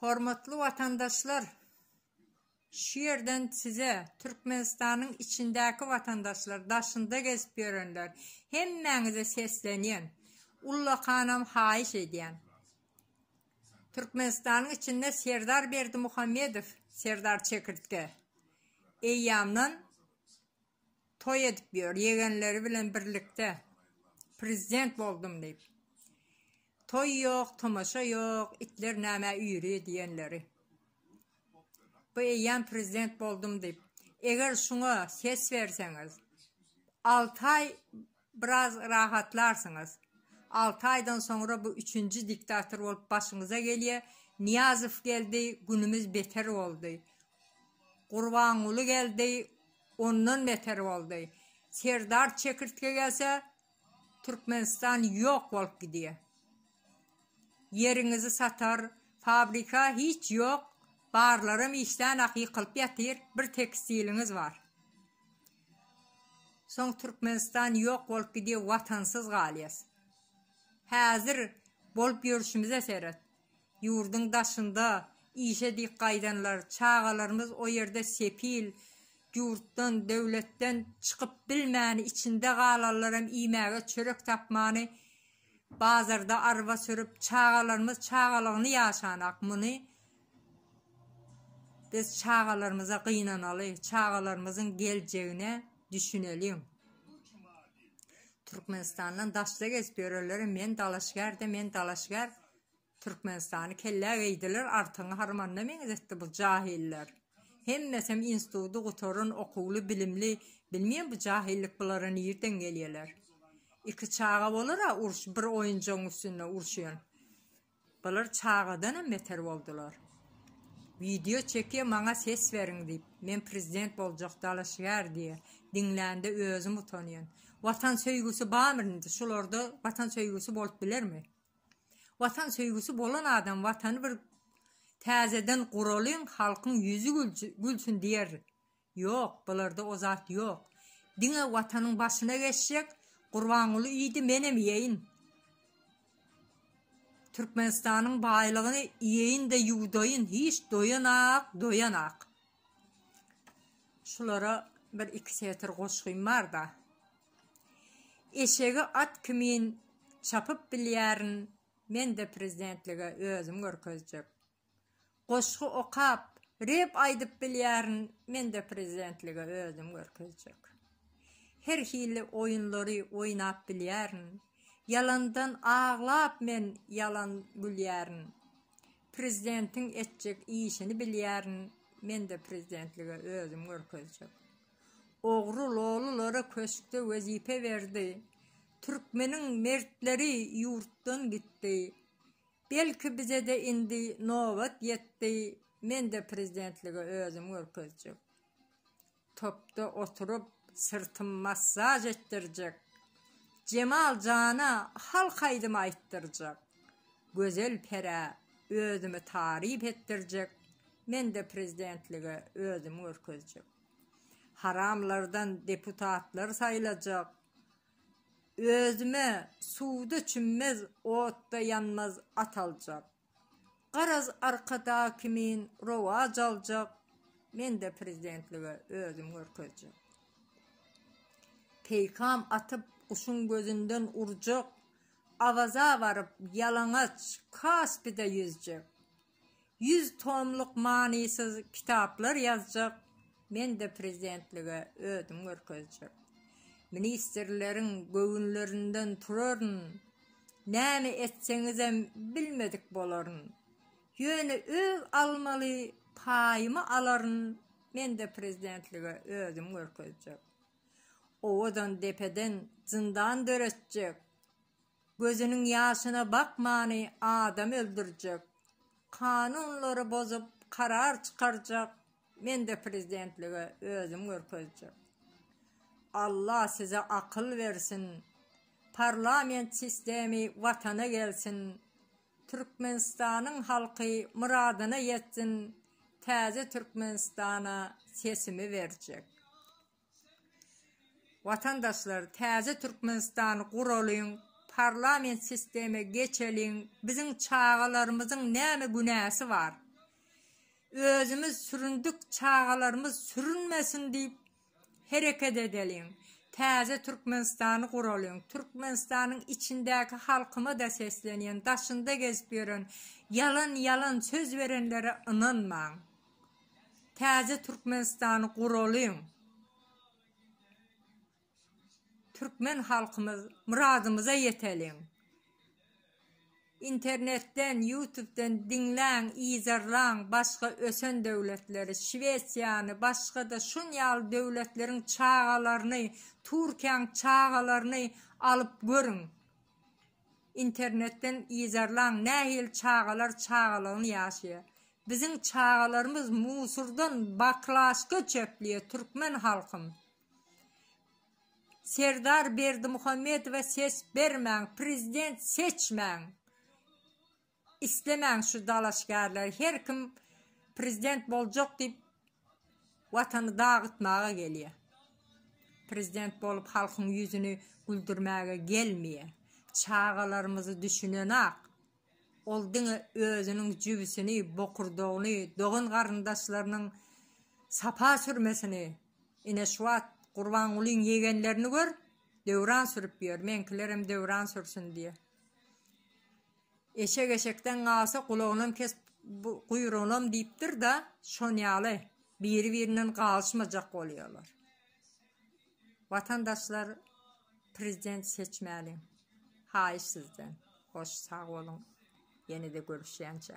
Hormatly watandaşlar, şu ýerden size Türkmenistanyň içindäki watandaşlar, daşynda gezip ýörenler, hemmäňize seslenýän, ullakanam haýyş edýän. Türkmenistanyň içinde Serdar Berdimuhamedow, Serdar Çekirtge, eýýamdan Toý edip ýör, ýegenleri bilen birlikde prezident boldum diýip. Toý ýok, tomaşa ýok, itler nämä üýri diýenleri. Bu eýýäm prezident boldum diýip. Eger şuňa ses berseňiz, alty aý Biraz rahatlarsyňyz. Alty aýdan soňra bu üçünji diktator bolup başyňyza gelýä. Nyýazow geldi, günümiz beter boldy. Gurbanguly geldi, ondan beter boldy. Serdar çekirtge gelse, Türkmenistan ýok bolup gidýä. Ýeriňizi satar, fabrika hiç ýok, barlaram işdänak ýykylyp ýatyr, bir tekstiliňiz bar. Soň Türkmenistan ýok bolup gidýär watansyz galýas. Häzir bolup ýörşümize seret. Ýurduň daşynda işe diýip gaýdanlar, çagalarymyz o ýerde sepil, ýurtdan, döwletden çykyp bilmäni içinde galanlaram iýmäge çörek tapmany bazarda arba sürüp çagalarymyz çagalygyny ýaşanak muny Biz çagalarymyza gynanaly, çagalarymyzyň geljegine düşüneliň. Türkmenistandan daşda gezip ýörenlere men dalaşgärde, men dalaşgär Türkmenistany kellä geýdiler, artyňy harmanda meňzetdi bu jahiller. Hemmesem instituty gutaran, okuwly, bilimli. Bilmeýän bu jahillik bulara nirden gelýärler. Iki çaga bolar-a uruş, bir oýunjagyň üstünde uruşýan. Bular çagadanam beter boldular. Wideo çekýa maňa ses beriň diýip. Men prezident boljak dalaşgär diýe. Diňlände özüm utanýan. Watan söýgüsi barmy indi şularda watan söýgüsi bolup bilermi? Watan söýgüsi bolan adam watany bir täzeden guralyň halkyň ýüzi gülsün diýer. Ýok, bularda o zat ýok. Diňe Watanyň başyna geçjek, Gurbanguly iýdi, menem iýeýin. Türkmenistanyň baýlygyny iýeýin-de ýuwdaýyn, hiç doýan-ak, doýan-ak. Şulara bir-iki setir goşgym bar-da. Eşegi at kimin çapyp bilýärin, men-de prezidentlige özüm görkezjek. Goşgy okap rep aýdyp bilýärin mende prezidentlige özüm görkezjek her hili oýunlary oýnap bilýärin ýalandan aglap men ýalan gülýärin prezidentiň etjek işini bilýärin mende prezidentlige özüm görkezjek ogry lolulara köşkde wezipe berdi türkmeniň mertleri ýurtdan gitdi Belki bizede indi nobat ýetdi mende prezidentligi özüm görkezjek topda oturyp syrtym massaj etdirjek Jemal jana halk aýdymy aýtdyrjak Gözel perä özümi taryp etdirjek mende prezidentligi özüm görkezjek Haramlardan deputatlar saýlajak Özüme suwda çümmez, otda ýanmaz at aljak. Garaz Arkada kimin rowaç aljak, men-de prezidentlige özüm görkezjek. Peýkam atyp guşuň gözünden urjak, Awaza baryp ýalaňaç Kaspide ýüzjek. Ýüz tomluk manysyz kitaplar ýazjak, men-de prezidentlige özüm görkezjek. Ministrleriň göwünlerinden turaryn, näme etseňizem bilmedik bolaryn. Ýöne öz almaly paýymy alaryn, men-de prezidentlige özüm görkezjek. Owadan depeden zyndan döretjek, Gözüniň ýaşyna bakmany adam öldürjek kanunlary bozup karar çykarjak mende prezidentlige özüm görkezjek Alla size akyl bersin parlament sistemi watana gelsin Türkmenistanyň halky myradyna ýetsin täze Türkmenistana sesimi berjek. Watandaşlar täze Türkmenistany guralyň, parlament sisteme geçeliň, biziň çagalarymyzyň näme günäsi bar? Özümiz süründik çagalarymyz sürünmesin diýip hereket edeliň, täze Türkmenistany guralyň, Türkmenistanyň içindäki halkymada seslenýän, daşynda gezip ýören ýalan ýalan söz berenlere ynanmaň. Täze Türkmenistany guralyň! Türkmen halkymyz myradymyza ýeteliň! Internetden, ýutubden diňläň, yzarlaň başga ösen döwletleri, Şwesiýany, başga-da şun ýaly döwletleriň çagalaryny, Türkiýäň çagalaryny alyp görüň! Internetden yzarlaň nähili çagalar çagalygyny ýaşaýa. Biziň çagalarymyz musurdan baklaşka çöpleýe türkmen halkym. Serdar Berdimuhamedowa ses bermäň prezident seçmäň. Islemäň şu dalaşgärleri her kim prezident boljak diýip watany dagytmaga gelýär. Prezident bolup halkyň ýüzüni güldürmäge gelmeýär. Çagalarymyzy düşünenak. Ol diňe özüniň jübüsini, bokurdagyny, dogan garyndaşlarynyň sapa sürmesini, ine şu wagt Gurbangulyň ýegenlerini gör, döwran sürüp ýör, meňkilerem döwran sürsün diýýär. Eşek eşekden galsa, gulagynam kes, guýrugynam diýipdir-de, şon ýaly biri-birinden galyşmajak bolýarlar. Watandaşlar prezident seçmäliň. Haýyş sizden. Hoş, sag boluň. Ýene-de görüşýänçä.